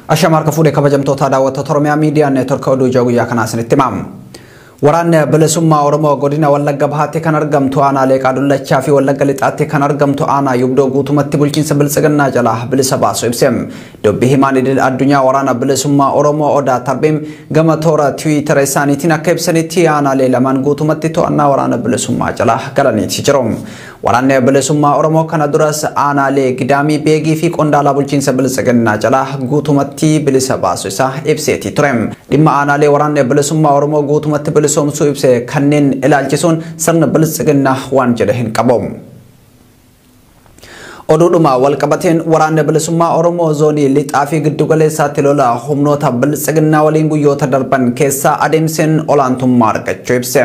Ashamaa harka fuudhee kabajamtoota daawwattoota Oromiyaa Miidiyaa Neetworka Oduu Ijaa Guyyaa kanaa isinitti himamu. Waraanni Bilisummaa Oromoo godina Wallagga Bahaatti kan argamtu aanaa Leeqaa Dullachaa fi Wallagga Lixaatti kan argamtu aanaa Yubdoo guutumatti bulchiinsa Biltsiginnaa jalaa bilisa baasu ibse. Dubbi himaan idil addunyaa waraana Bilisummaa Oromoo Odaa Tarbiim gama toora tiwiitara isaaniitiin akka ibsanitti aanaalee lamaan guutumatti to'annaa waraana Bilisummaa jalaa galaniiti jiru. Waraanni Bilisummaa Oromoo kana duras aanaalee Gidaamii Beegii fi qondaalaa bulchiinsa Biltsiginnaa jalaa guutumatti bilisa baasu isaa ibseetii ture. Dhimma aanaalee waraanni Bilisummaa Oromoo guutumatti bilisoomsuu ibse kanneen ilaalchisuun sirni Biltsiginnaa waan jedhe hin qabu. Oduudhuma walqabateen waraanni Bilisummaa Oromoo zoonii lixaa fi giddugaleessaatti lola humnoota Biltsiginnaa waliin guyyoota darban keessa adeemseen olaantummaa argachuu ibse.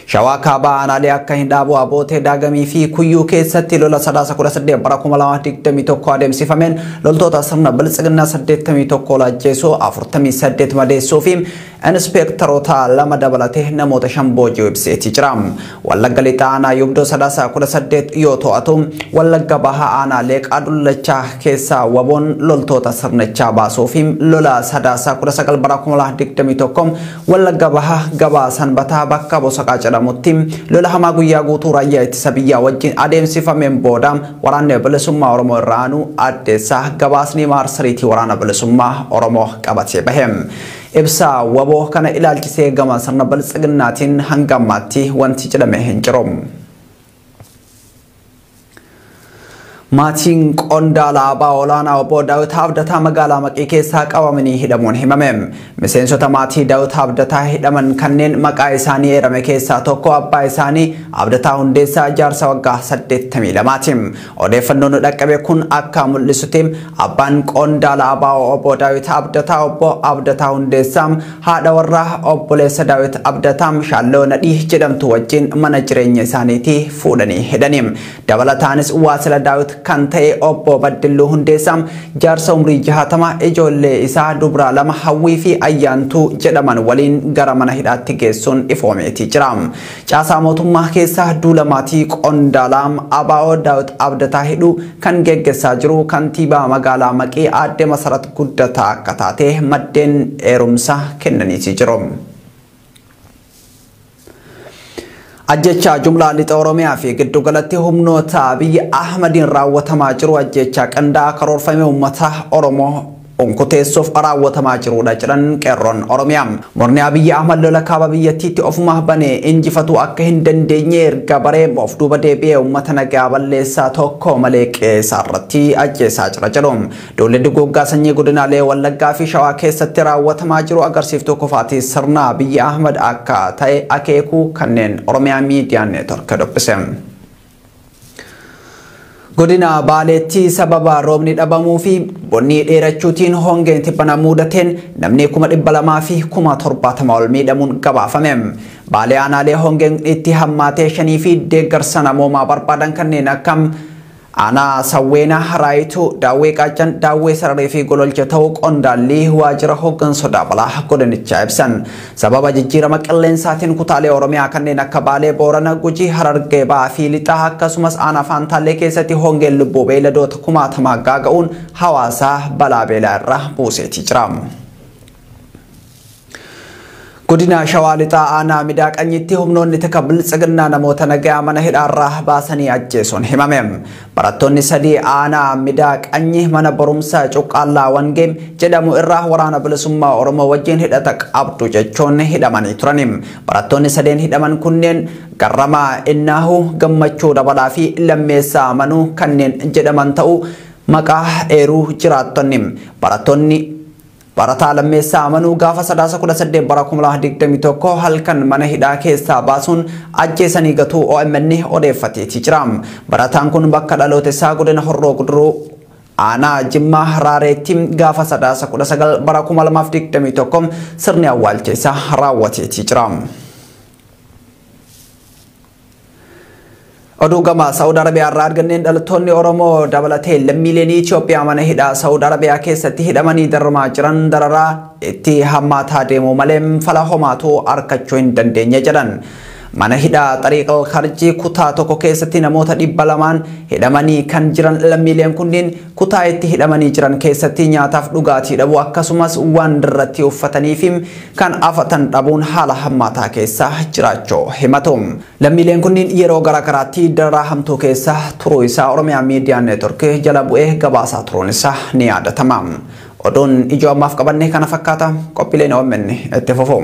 Shawaa Kaabaa aanaalee akka Hindhaaboo, Abootee, Daagamii fi Kuyyuu keessatti lola sadaasa 18 bara 2021 adeemsifameen loltoota sirna biltsiginnaa 81 ol ajjeesuu, 48 madeessuu fi inspeektaroota lama dabalatee namoota shan booji'uu ibseetii jira. Wallagga Lixaa aanaa Yubdoo sadaasa 18 yoo to'atu, Wallagga Bahaa aanaa Leeqaa Dullachaa keessaa waboon loltoota sirnichaa baasuu fi lola sadaasa 19 bara 2021 Wallagga Bahaa gabaa Sanbataa bakka Bosaqaa jedhamutti lola hamaa guyyaa guutuu raayyaa ittisa biyyaa wajjin adeemsifameen booda waraanni bilisummaa Oromoo irra aanuu addeessaa gabaasni maarsariitii waraana bilisummaa Oromoo qabatee bahe. Ibsa wbo kana ilaalchisee gama sirna biltsiginnaatiin hanga ammaatti wanti jedhame hin jiru. Maatiin qondaala aabaa olaanaa obbo Daawit Abdataa magaalaa Maqii keessaa qabamanii hidhamuun himame. Miseensota maatii Daawit Abdataa hidhaman kanneen maqaa isaanii eerame keessaa tokko abbaa isaanii Abdataa Hundeessaa jaarsa waggaa 82ti. Odeeffannoon nu dhaqqabe kun akka mul'isutti abbaan qondaala ABO obbo Daawit Abdataa obbo Abdataa Hundeessaa haadha warraa obboleessa Daawit Abdataa Shaalloo Nadhii jedhamtu wajjin mana jireenya isaaniitii fuudhanii hidhani. Dabalataanis waasila Daawit kan ta'e obbo Baddilluu Hundeessaa jaarsa umrii jahatama ijoollee isaa dubraa lama Hawwii fi Ayyaantuu jedhaman waliin gara mana hidhaatti geessuun ifoomeetii jira. Caasaa mootummaa keessa duula maatii qondaalaam ABO Daawit Abdataa hidhuu kan geggessaa jiru kantiibaa magaalaa Maqii aadde Masarat Guddataa akka taate maddeen eerumsa kennaniiti jiru. Ajjechaa jumlaa lixa Oromiyaa fi giddugalatti humnoota Abiy Ahmadiin raawwatamaa jiru ajjechaa qindaa'aa karoorfamee uummata Oromoo unkuteessuuf raawwatamaa jiruudha jedhan qeerroon Oromiyaa. Murni Abiyyi Ahmad lola kaaba biyyattiitti ofuma bane injifatuu akka hin dandeenye erga baree of duuba deebi'ee uummata nagaa balleessaa tokko malee qe'ee isaa irratti ajjeesaa jira jedhu. Duulli duguuggaa sanyii godinaalee Wallaggaa fi Shawaa keessatti raawwatamaa jiru agarsiiftuu kufaatii sirna Abiyyi Ahmad akka ta'e akeekuu kanneen Oromiyaa Miidiyaa Neetwork dubbise. Godina Baaleetti sababa roobni dhabamuu fi bonnii dheerachuutiin hongeen tibbana muudateen namni kuma dhibba lamaa fi kuma torbaatama ol miidhamuun gabaafame. Baalee aanaalee hongeen itti hammaatee shanii fi deeggarsa namoomaa barbaadan kanneen akka aanaa Sawweenaa, Haraayituu, Daawwee Qaaccan, Daawwee Sararii fi Gololcha ta'uu qondaallii waajjira hooggansa sodaa balaa godinichaa ibsan. Sababa jijjiirama qilleensaatiin kutaalee Oromiyaa kanneen akka Baalee, Boorana, Gujii, Harargee Bahaa fi Lixaa akkasumas aanaa Faantaallee keessatti hongeen lubbuu beeyladoota kumaatamaa gaaga'uun hawaasa balaa beelaa irra buuseetii jira. Godina Shawaa Lixaa aanaa Midaa Qanyitti humnoonni tika biltsiginnaa namoota nagayaa mana hidhaarraa baasanii ajjeesuun himame. Barattoonni sadii aanaa Midaa Qanyi mana barumsaa Cuqqaallaa Wangee jedhamu irraa Waraana Bilisummaa Oromoo wajjin hidhata qabdu jechuun hidhamanii turani. Barattoonni sadeen hidhaman kunneen Garramaa Innaahu, Gammachuu Dabalaa fi Lammeessaa Amanuu kanneen jedhaman ta'uu maqaa eeruu jiraattonni. Barattoonni. Barataa Lammeessaa Amanuu gaafa Sadaasa 18 bara 2021 halkan mana hidhaa keessaa baasuun ajjeesanii gatuu OMN odeeffateetii jira. Barataan kun bakka dhaloota isaa godina Horroo Guduruu aanaa Jimmaa Raareetti gaafa Sadaasa 19 bara 2021 sirni awwaalcha isaa raawwateetii jira. Oduu gama Saawud Arabiyaa irraa arganneen dhalattoonni Oromoo dabalatee lammiileen Itoophiyaa mana hidhaa Saawud Arabiyaa keessatti hidhamanii dararamaa jiran dararaa itti hammaataa deemuu malee fala homaatu arkachuu hin dandeenye jedhan. Mana hidhaa Xariiqal Karjii kutaa tokko keessatti namoota dhibba lamaan hidhamanii kan jiran lammiileen kunniin Kutaa itti hidhamanii jiran keessatti nyaataaf dhugaatii dhabuu akkasumas waan irratti uffatanii fi kan afatan dhabuun haala hammaataa keessa jiraachuu himatu. Lammiileen kunniin yeroo gara garaatti dararaa hamtuu keessa turuu isaa Oromiyaa Miidiyaa Neetwork jala bu'ee gabaasaa turuun isaa ni yaadatama. Oduun ijoo ammaaf qabanne kana fakkaata. Qophiileen OMN itti fufu.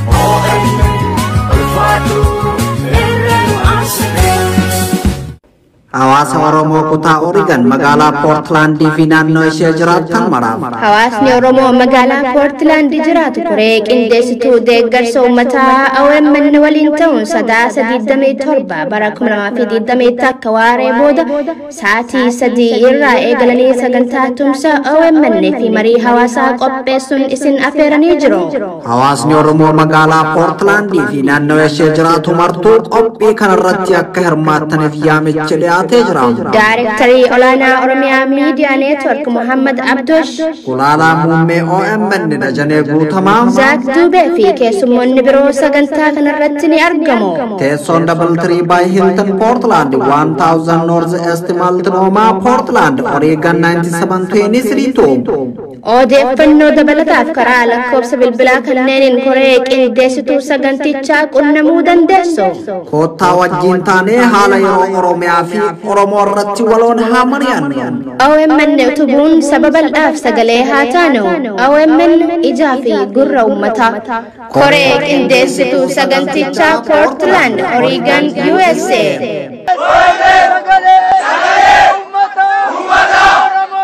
Hawaasa Oromoo kutaa Oregon magaalaa Poortilaandii fi naannoo ishee jiraatan maraaf. Hawaasni Oromoo magaalaa Poortilaandi jiraatu koree qindeessituu deeggarsa uummataa OMN waliin ta'uun sadaasa 27 bara 2020 akka waaree booda Sa'aatii sadii irraa eegalanii sagantaa tumsa OMN fi marii hawaasaa qopheessuun isin affeeranii jiru. Hawaasni Oromoo magaalaa Poortlaandii fi naannoo ishee jiraatu martuu qophii kanarratti akka hirmaattaniif yaamichi dhiyaatee jira. Daarektarii olaanaa Oromiyaa Miidiyaa Neetwork Muhammad Abdosh, Gulaalaa muummee OMN Dajanee Guutamaa. Zaak Duubee fi keessummoonni biroo sagantaa kanarratti ni argamu. Teessoon Double Tree by Hilton Portland 1000 North East Multnomah Portland Oregon 9723 Odeeffannoo dabalataaf karaa lakkoofsa bilbilaa kanneeniin koree qindeessituu sagantichaa qunnamuu dandeessu. Koottaa wajjin taanee haala yeroo Oromiyaa fi Oromoo irratti waloon haa mari'annu. OMN utubuun saba bal'aaf sagalee haa taanu. OMN ijaa fi gurra uummataa. Koree Qindeessituu Sagantichaa Portland, Oregon, USA. Oromoo.